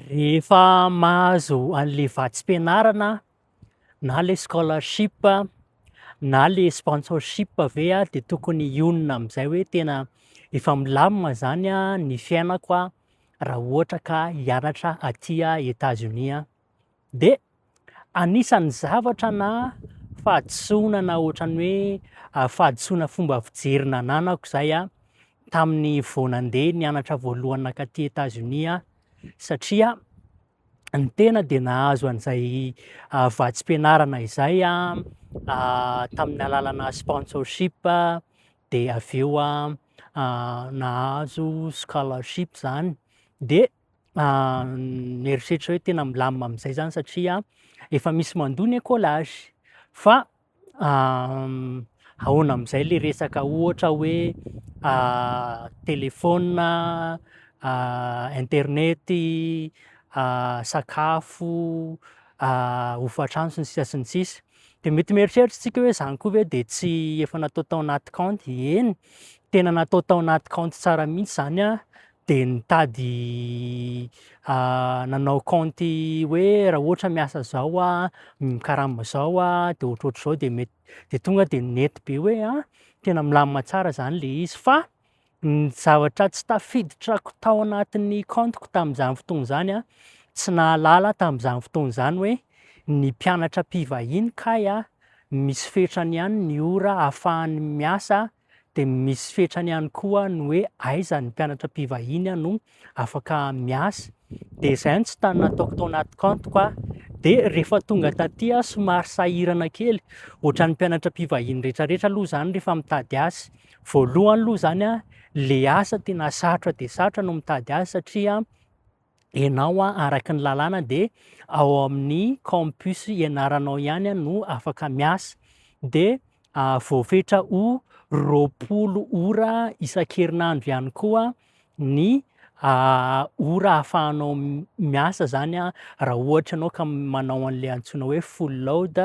Rehefa mahazo an'ilay vatsim-pianarana na ilay scholarship na ilay sponsorship ve aho dia tokony hionona amin'izay hoe tena efa milamina izany ny fiainako raha ohatra ka hianatra aty Etazonia aho. Dia anisan'ny zavatra na fahadisoana na ohatran'ny hoe fahadisoana fomba fijery nananako izay tamin'ny vao nandeha nianatra voalohany nakaty Etazonia satria ny tena dia nahazo an'izay ah, vatsim-pianarana izay ah, ah, tamin'ny alalana sponsorship ah, dia avy eo nahazo scholarship izany dia mieritreritra hoe tena milamina amin'izay zany satria efa misy mandoa ny écolage fa ahoana amin'izay le resaka ohatra hoe telefaona, internet, sakafo, hofantrano sy ny sisa sy ny sisa dia mety mieritreritra isika hoe zany koa ve dia tsy efa natao tao anaty kaonty, eny tena natao tao anaty kaonty tsara mihitsy zany dia nitady nanao kaonty hoe raha ohatra miasa izao aho, mikarama izao aho dia ohatrohatr'izao dia mety dia tonga dia nety be hoe a tena milamina tsara izany ilay izy fa ny zavatra tsy tafiditrako tao anatin'ny kaontiko tamin'izany fotoana izany a, tsy nahalala tamin'izany fotoana izany hoe ny mpianatra mpivahiny kay a, misy fetrany ihany ny ora ahafahany miasa. Dia misy fetrany ihany koa ny hoe aiza ny mpianatra mpivahiny no afaka miasa. Dia izay no tsy tany nataoko tao anaty kantoko aho. Dia rehefa tonga taty aho somary sahirana kely, ohatran'ny mpianatra mpivahiny rehetrarehetra aloha izany rehefa mitady asa. Voalohany aloha izany, ilay asa tena sarotra dia sarotra no mitady azy satria ianao araka ny lalàna dia ao amin'ny campus ianaranao ihany no afaka miasa dia ah, voafetra ho roapolo ora isan-kerinandro ihany koa ny ah, ora ahafahanao miasa zany ah, raha ohatra ianao ka manao an'le antsoina hoe full load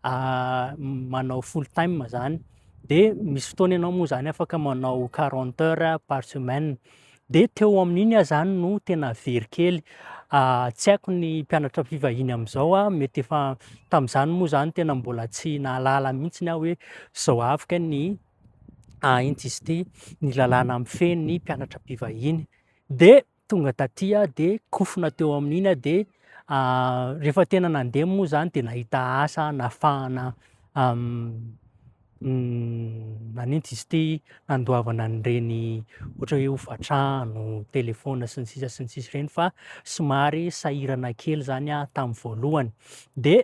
ah, manao full time zany dia misy fotoana ianao moa zany afaka manao 40 heures par semaine Dia teo amin'iny aho izany no tena very kely. Tsy haiko ny mpianatra fivahiny amin'izao, mety efa tamin'izany moa izany tena mbola tsy nahalala mihitsy ny aho hoe izao avy kay ny intsy izy ity, ny lalàna mifehy ny mpianatra mpivahiny. Dia tonga taty aho dia kofona teo amin'iny aho dia rehefa tena nandeha moa izany dia nahita asa nafahana Nanintsy izy ity handoavana an'ireny ohatra hoe hofan-trano, telefaona sy ny sisa sy ny sisa ireny fa somary sahirana kely izany aho tamin'ny voalohany. Dia